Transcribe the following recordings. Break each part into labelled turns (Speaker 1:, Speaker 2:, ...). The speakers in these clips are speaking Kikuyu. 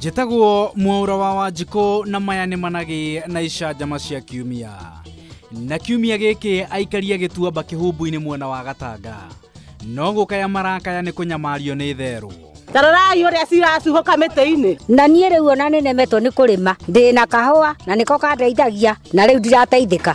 Speaker 1: njĩtagwo mwaura wa wanjikũ na maya nĩ managĩ na icanjama cia kiumia na kiumia gĩkĩ aikaria gĩtuamba kĩhumbu-inĩ mwena wa gatanga no gũkaya marakaya nĩ kũnyamario nĩ therũ tarorai ũrĩa ciracuhũka mĩtĩ-inĩ na niĩ rĩu ona nĩnemetwo nĩ kũrĩma ndĩ na kahũa na nĩko kandeithagia na rĩu ndirateithĩka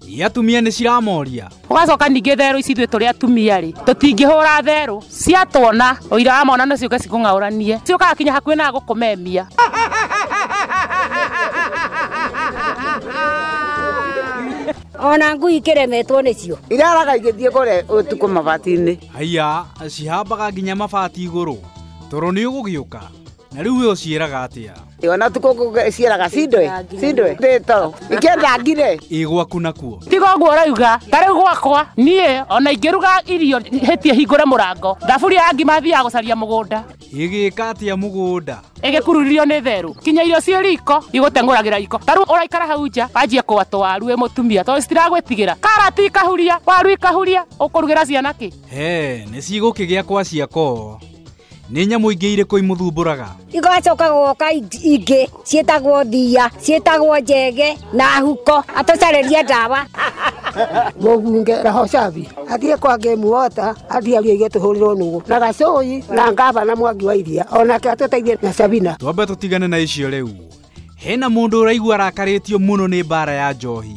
Speaker 1: Iria atumia nĩ ciramoria. Ũgacoka ningĩ therũ ici ithuĩ tũrĩ atumia rĩ, tũtingĩhũra therũ ciatuona ũira wa mwana nacio gacikũng'aũranie ciũkaga kinya hakuhĩ na gũkũmemia. ona ngui ikĩremetwo nĩcio iraraga igĩthiĩ kũrĩa ũtukũ mabati-inĩ Haiya, cihambaga nginya mabati igũrũ. Toro nĩ ũgũgĩũka. na rĩu we ũciĩraga atĩa Ĩ, ona tukå cieraga cindwe cindwe ndä toro ingä ndangire ĩ gwaku nakuo tiga ũguo ũrauga ta rĩu gwakwa niĩ ona ingĩruga irio hĩtie hingũre mũrango thaburi ya ngima thiaga gũcaria mũgũnda ĩgĩka atĩa mũgũnda ĩgĩkururirio nĩ therũ kinya irio ciĩ riko igũteng'ũragĩra iko ta rĩu ũraikara hau nja wanjie kũgwatwo waru wĩ mũtumia tondũ citiragwĩtigĩra karati ikahuria waru ikahuria ũkũrugĩra ciana kĩ he nĩ cigũkĩgĩa kwa ciakoo nĩ nyamũ ingĩ irĩkũ imũthumbũraga igacoka goka ingĩ ciĩtagwo thia ciĩtagwo njege na huko atũcarĩria ndawa mũbunge Rahocabi athiĩ kwa Game Water athiĩ aria ithuĩ tũhũrĩrwo nũgũ na Gacũi na ngavana Mwangi wa Iria onake atũteithie na Sabina. Twambe tũtigane na icio rĩu. Hena mũndũ ũraigua arakarĩtio mũno nĩ mbara ya njohi.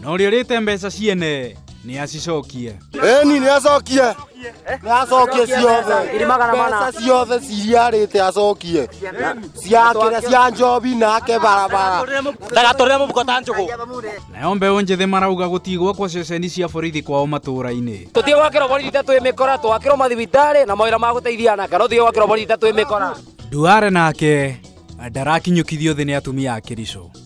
Speaker 1: na ũrĩa ũrĩte mbeca ciene nĩ acicokie Eni nĩ acokie nĩ acokie ciothe mbeca ciothe ciriarĩte acokie ciakĩra cia njobi nake barabara ndagatũrĩre mũbuko ta njũgũ nayo mbeũ njĩthĩ marauga gũtigwo kwa ceceni cia borithi kwao matũũra-inĩ tũtige gwakĩrwo borithi ta twĩ mĩkora twakĩrwo mathibitarĩ na mawĩra ma gũteithia anaka no tũtige gwakĩrwo borithi ta twĩ mĩkora Duare nake ndarakinyũkithio thĩ nĩ atumia a Kericho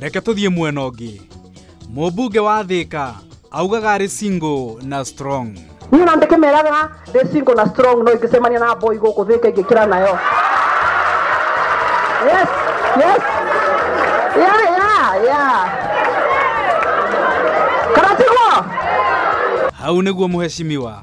Speaker 1: reke tũthiĩ mwena ũngĩ mũmbunge wa thĩka augaga arĩ single na strong niä na ndäkä meraga ndä singo na strong no ingä cemania na boy gå kå thä ka ingä kä ra nayo yes yes yeah yeah yeah kana tiguo hau nĩguo mũheshimiwa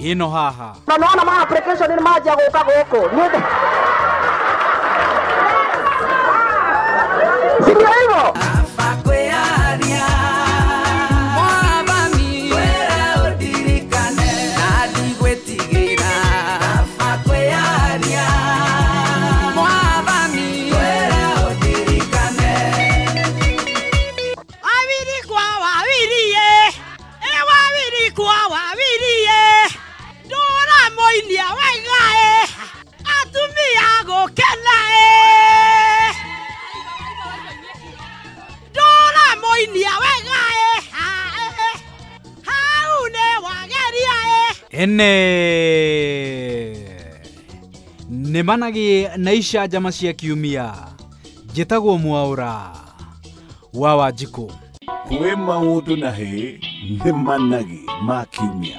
Speaker 1: ĩno haha na nona ma application nĩ manjia gũka gũkũ Nĩ ũndũ- si ndio hivyo ĩ wawiri kwa wawiri ĩ ndũramũinia wega ĩ atumia gũkena ĩ ndũramũinia wega ĩ ha, ĩ, ĩ. hau nĩ wageria ĩ ene nĩ managĩ na icanjama cia kiumia njĩtagwo mwaũra wa Wanjikũ. Kwĩ maũndũ na hĩ nĩ managi ma kiumia.